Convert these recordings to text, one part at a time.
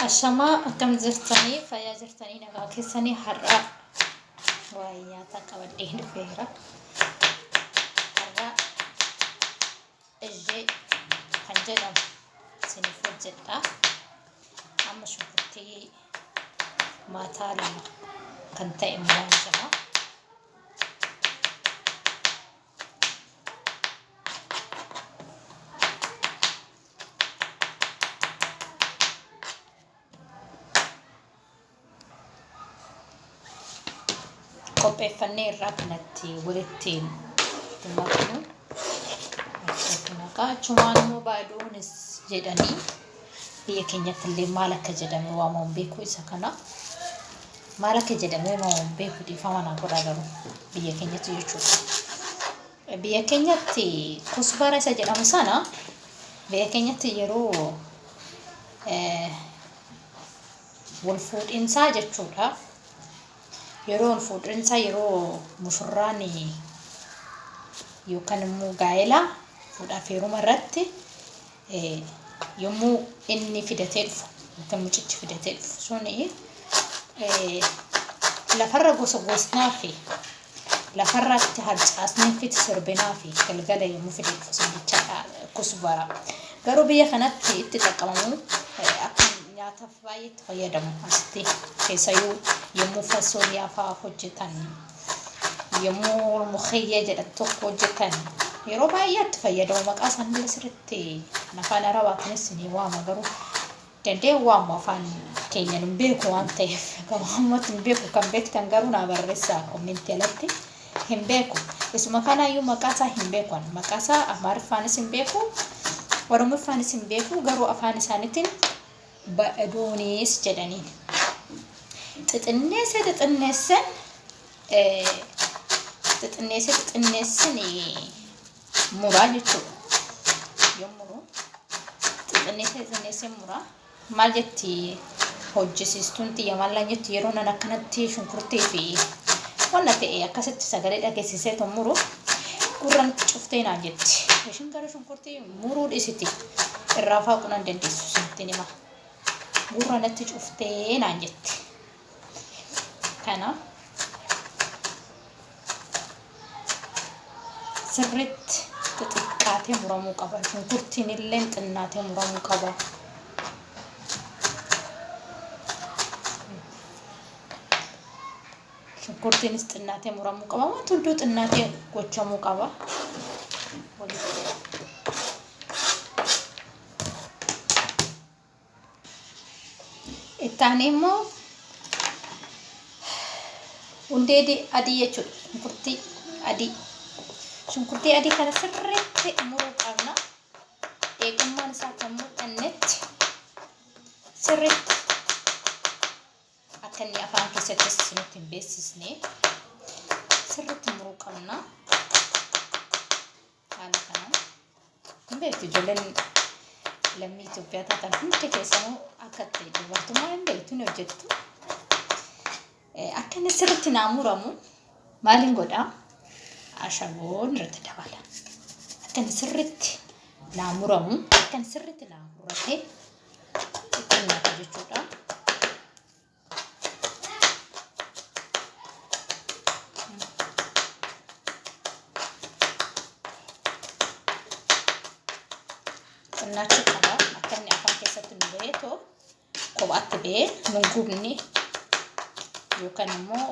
Ashamaa akkam jirtanii fayyaa jirtanii nagaa keessanii har'aa waa'ee nyaataa qabadhee dhufeera. Har'aa ijjee kan jedhamu isiniif hojjedha. Amma shunkurtii maataa lama kan ta'e muraan jira. qopheeffannee irraa kanatti walitti maknu achumaan immoo baaduunis jedhanii Biyya keenyatti illee maal akka jedhamee waamamu hin beeku isa kana. Maal akka jedhamee waamamu hin beeku dhiifama naa godhaa garuu biyya keenyatti jechuudha. Biyya keenyatti kusbaara isa jedhamu sana biyya keenyatti yeroo eh, wal fuudhinsaa jechuudha. Yeroo wal fuudhinsaa yeroo mushurraan yookaan immoo gaa'ela fuudhaaf heeruma irratti Yommuu inni fidatee dhufu, yookiin mucichi fidatee dhufu suni lafarra gosogosnaa fi lafarratti harcaasni fi sirbinaa fi galgala yommuu fidee dhufu san jechaadha kusbara. Garuu biyya kanatti itti xaqqabamuu akka nyaataaf baay'ee itti fayyadamu asitti keessayyuu yommuu fasooliyaa fa'aa hojjetan. yommuu mukiyya jedha tokko hojjetan yeroo baay'ee itti fayyadamu maqaa isaanillee sirriitti afaan arabaatiinis ni waama garuu danda'e waamu afaan keenya nun beeku waan ta'eef garuu ammatti hin beeku kan beektan garuu naa barreessaa kommentti alatti hin beeku isuma kanaayyuu maqaa isaa hin beeku ani maqaa isaa amaariffaanis hin beeku oromiffaanis hin beeku garuu afaan isaaniitiin badhaduunis jedhaniin xixinneessee xixinneesseen xixinneessee xixinneesseen muraa jechuudha. Yoo muruu xixinneessee xixinneessee muraa maal jetti hojjisiistuun xiyya maallaan jetti yeroo nan akkanatti shunkurtii fi wanna ta'e akkasitti sagalee dhageessisee tun muru gurran cuftee naan jetti. Ishiin garuu shunkurtii Muruu dhisiti irraa faaqu nan dandeessu sittin hima gurra natti cuftee naan jette kana sirritti xixiqqaatee muramuu qaba shunkurtiin illee xinnaatee muramuu qaba Shunkurtiinis xinnaatee muramuu qaba. Wanti hunduu xinnaatee gochamuu qaba. Itti aanee immoo hundee di- adii jechuudha. Shunkurtii adii. Shunkurtii adii kana sirriitti muruu qabna. Eegummaan isaa kan mul'annetti sirriitti Akka inni afaan keessatti isinitti hin beeksisne sirriitti muruu qabna. Haala kanaan hin beektu ijoolleen lammii Itoophiyaa taatan hundi keessanuu akka ta'e dubartummaa hin beektu ni hojjettu. Akka inni sirriitti naa muramu maaliin godhaa? Ashaboon irratti dabala. Akka inni sirriitti naa muramu, akka inni sirriitti naa murate ittiin nyaata jechuudha. Xinnaachuu qaba. Akka inni afaan keessatti nu ba'ee too kophaatti ba'ee nun gubni yookaan immoo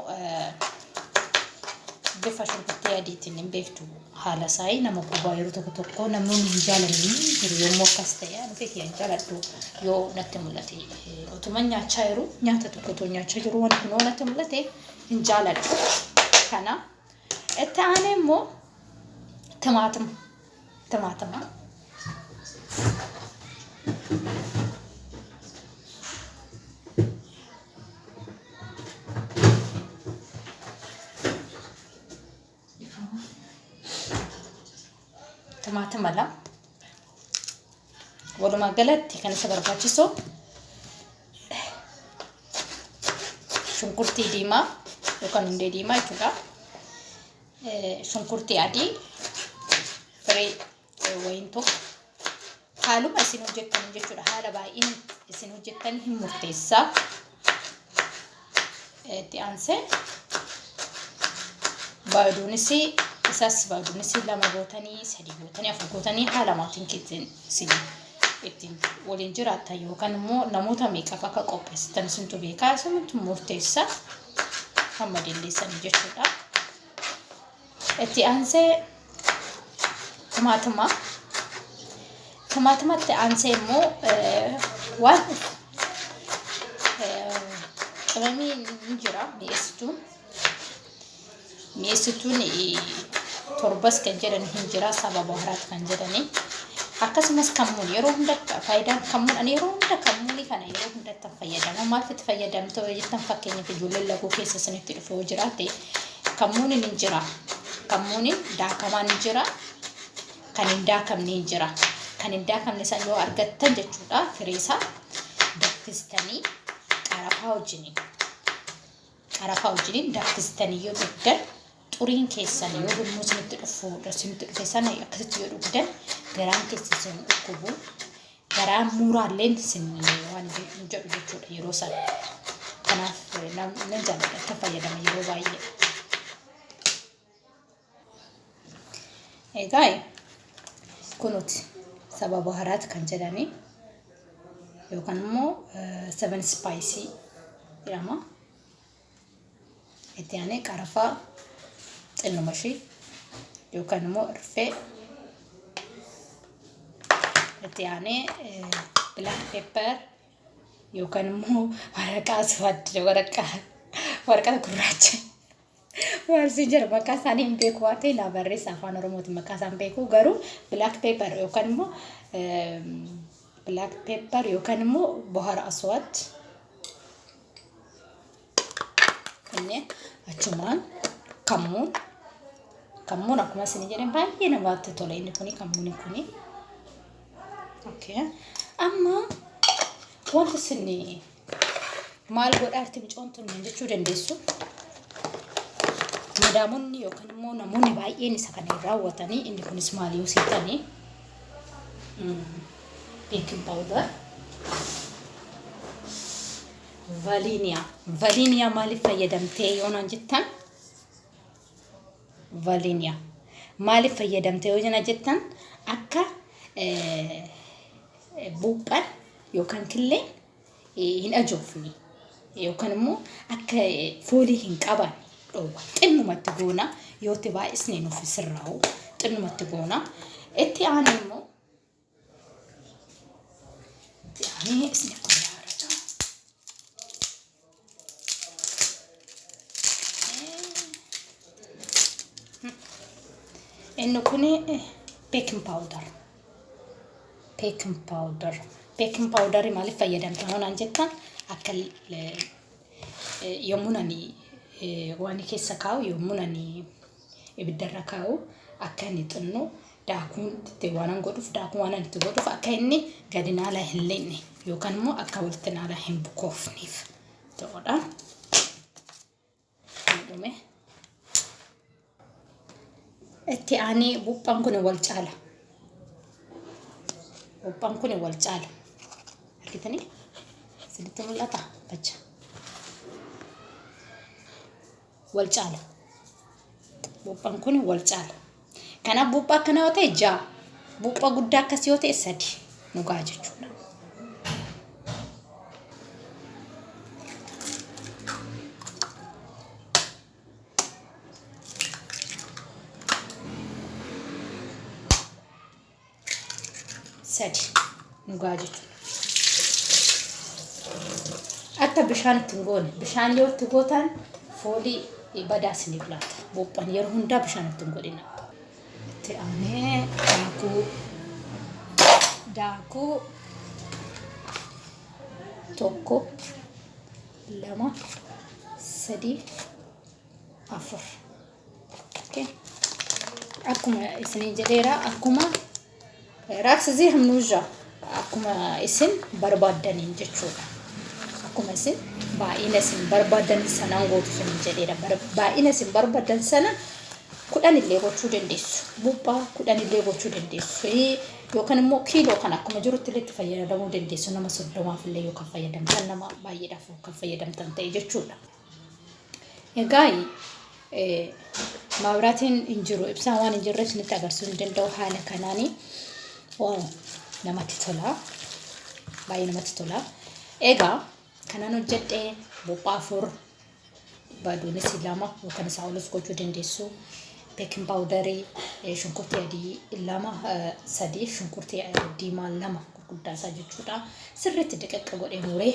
bifa shunkurtii adiitiin hin beektu haala saai nama guba yeroo tokko tokko namoonni hin jaalanne jiru yommuu akkas ta'e ani ofii kiyya hin jaaladhu yoo natti mul'ate otuma nyaachaa jiru nyaata tokko otoo nyaachaa jiru wanti kun yoo natti mul'ate hin jaaladhu kana itti aanee immoo timaatima timaatima Dhifama. Timaatima lama. Walumaa galatti kan isa barbaachisu shunkurtii diimaa yookaan hundee diimaa jechuudha. Eh, Shunkurtii adii firii wayin tokko haaluma isin hojjettan jechuudha haala baay'een isin hojjettan hin murteessaa itti aansee baaduunis isaas baaduunis lama gootanii sadii gootanii afur gootanii haala maatiin keessan isin ittiin waliin jiraattan yookaan immoo namoota meeqaaf akka qopheessitan isintu beekaa isintu murteessaa hamma dandeessanii jechuudha. Itti aansee timaatimaa. Timaatimatti aansee immoo waan qimamii ni jira mi'eessituun. Mi'eessituun torbas kan jedhan hin jira saba baharaat kan jedhanii. Akkasumas kammuun yeroo hunda faayidaan kammuun ani yeroo hunda kammuunii kana yeroo hundatti fayyadama. Maaliif itti fayyadamtoo jettan fakkeenyaaf ijoolleen laguu keessa isinitti dhufee jiraate Kammuuniin hin jira. Kammuuniin daakamaan hin jira. Kan hin daakamne hin jira. Kan hin daakamne san yoo argattan jechuudha firii isaa daffistanii qarafaa wajjiniin qarafaa wajjiniin daffistanii yoo dhugdan xuriin keessan yoo gurmuu isinitti dhufu isinitti dhufe sana akkasitti yoo dhugdan garaan keessan isin dhukkubu garaa muuraalleen sin waan hin jedhu jechuudha yeroo sana. Kanaaf namni jaalladha akka fayyadama yeroo baay'ee. Egaa kunuti sababa haraati kan jedhanii yookaan immoo seven spice jedhama. Itti aanee qarafaa xinnuma ishii yookaan immoo irfee itti aanee black pepper yookaan immoo waraqaa suwaadda waraqaa waraqaa gurraacha waan si jira maqaa isaanii hin beeku waan ta'e naa barreessa afaan oromootiin maqaa isaan beeku garuu black pepper yookaan immoo black pepper yookaan immoo bohara aswaad Inni achumaan kammuun kammuun akkuma isin jedhan baay'ee namatti tola inni kuni kammuun kuni. Okay. Amma wanti isin maal godhaa itti mucoon tun jechuu dandeessu. Madaamonni yookaan immoo namoonni baay'een isa kana hin raawwatanii inni kunis maal yoo seetanii. baking powder valiiniyaa valiiniyaa maaliif fayyadamtee yoo naan jettan valiiniyaa maaliif fayyadamtee yoo naan jettan akka eh, buuphan yookaan killeen eh, hin ajoofne yookaan immoo akka eh, foolii hin qaban dhoowwa xinnumatti goona yoo itti baay'isne nuuf sirraa'u xinnumatti goona itti aanu immoo Yaani isni kun yaara jaa. Inni kun beekin paawudar. Beekin paawudar. Beekin paawudarii maaliif fayyadamta yoo naan jettan akka eh, eh, yommuun ani eh, waan keessa kaa'u yommuun ani ibiddarra kaa'u akka inni xinno daakuun itti waanan godhuuf daakuu waanan itti godhuuf akka inni gadi naala hin leenye yookaan immoo akka walitti naala hin bukoofneef ta'udha. Dhume. Itti aanee buuphaan kun wal caala. Buuphaan kun wal caala. Argitanii? Isinitti mul'ata? Bacha. wal caala. Buuphaan kun wal caala. Kanaaf buuphaa akkana yoo ta'e ja'a. Buuphaa guddaa akkas yoo ta'e sadi nu ga'a jechuudha. sadi nu ga'a jechuudha. Akka bishaan itti hin goone bishaan yoo itti gootan foolii badaa isiniif laata. Buuphan yeroo hundaa bishaan itti hin godhina. Itti aanee daakuu daakuu tokko lama sadii afur. akkuma isiniin jedheera akkuma raaksizii hamnuujaa akkuma isin barbaaddaniin jechuudha akkuma isin baay'ina isin barbaadan sanaan gootu isiniin jedheera baay'ina isin barbaadan sana kudhan illee gochuu dandeessu buphaa kudhan illee gochuu dandeessu yookaan immoo kiiloo kan akkuma jirutti illee itti fayyadamuu dandeessu nama soddomaaf illee yookaan fayyadamtan nama baay'eedhaaf kan fayyadamtan ta'e jechuudha. Egaa maabiraatiin hin jiru ibsaan waan hin jirreef isinitti agarsiisuu hin danda'u haala kanaani. Waaw namatti tola. Baay'ee namatti tola. Egaa kanan hojjedhe buuphaa afur baaduunis lama yookaan isaa olis gochuu dandeessu. Beekin paawudarii eh, shunkurtii adii lama eh, sadii shunkurtii eh, diimaa lama gurguddaa isaa jechuudha. Sirriitti diqaqqa godhee muree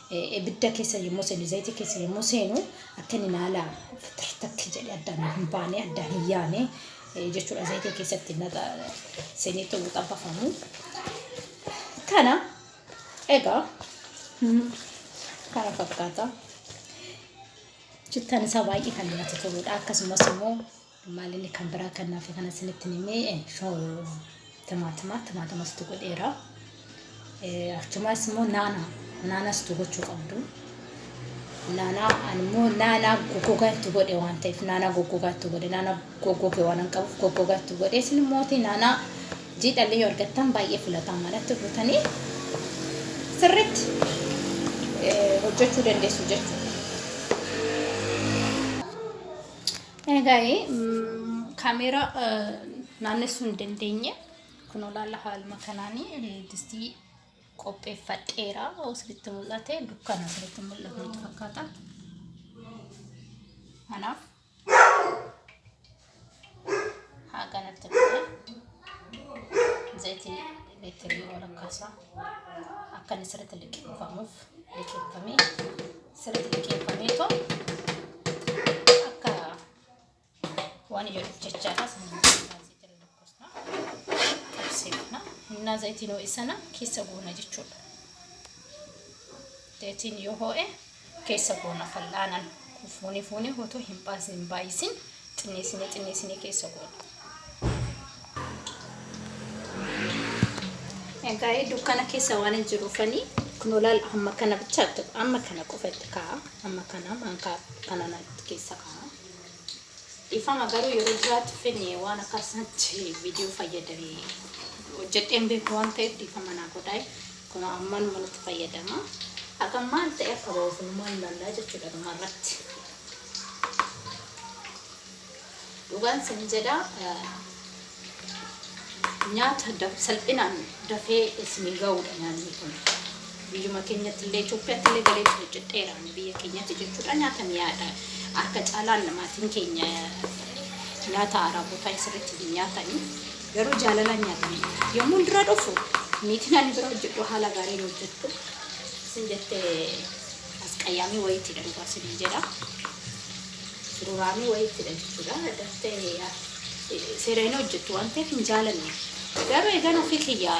ibidda keessa yommuu seenu, zayita keessa yommuu seenu akka inni naala takki jedhe addaan hin baane, addaan hin yaane jechuudha. Zayita keessatti naqa seenee ta'uu xabbafamu. Kana egaa kana fakkaata. Chittaan isaa baay'ee kan namatti toludha. Akkasumas immoo Maalillee kan biraa kan nafe kana isinitti hin himee shoo timaatimaa timaatama situ godheera. Achumaas immoo naanaa naanaa situ gochuu qabdu. Naanaa ani immoo naanaa goggogaa itti godhe waan ta'eef naanaa goggogaa itti godhe naanaa goggoge waan hin qabuuf goggogaa itti godhe isin immoo naanaa jiidhallee yoo argattan baay'ee filatamaadha itti guutanii sirriitti eh, hojjechuu dandeessu jechuudha. Egaa'ee kaameeraa naannessuu hin dandeenye. Kun olaala haaluma kanaan distii qopheeffadheera. Osiritti mul'ate dukkana osiritti mul'atu fakkaata. Kanaaf haa kanatti dhufe. Zayitii elektiriikii walakkaasaa. akka inni sirriitti liqeeffamuuf liqeeffamee sirriitti liqeeffamee too akka waan ijoolleef jechaadha seekna innaa zayitiin ho'isana keessa goona jechuudha. Zayitiin yoo ho'e keessa goona fal'aanan fuunee fuunee otoo hin baas- hin baay'isin xinneessinee xinneessinee keessa goona. Egaa ee, dukkana keessa waan hin jiruufanii kunoo laal amma kana bichaatti amma kana qofa itti kaa'a amma kana maankaa kana natti keessa kaa'a. Dhifama garuu yeroo duraatiif inni waan akkasatti viidiyoo fayyadame hojjedheen beeku waan ta'eef dhifama naa godhaa kunoo ammanuma nutti fayyadama haga maal ta'e akka ba'uuf numaan ilaallaa jechuudha dhuma irratti dhugaan sin jedha Nyaata daf salphinaan dafee isinii ga'uudha nyaanni kun. Biyyuma keenyatti illee Itoophiyaatti illee galee ture cidheera ani biyya keenyatti jechuudha nyaata mi'aadha. Harka caalaan maatiin keenya nyaata araabotaa hin sirriitti hin nyaatanii garuu jaalalaan nyaatanii yommuun dura dhufu niitiin ani bira hojjedhu haala gaariin hojjettu isin jettee Asqayyaamii wayiittidha dhugaa siniin jedha. Sururaamii wayiittidha jechuudha. Daftee yaa seera hin hojjettu waan ta'eef hin jaalanne. Garuu eegan ofii kiyyaa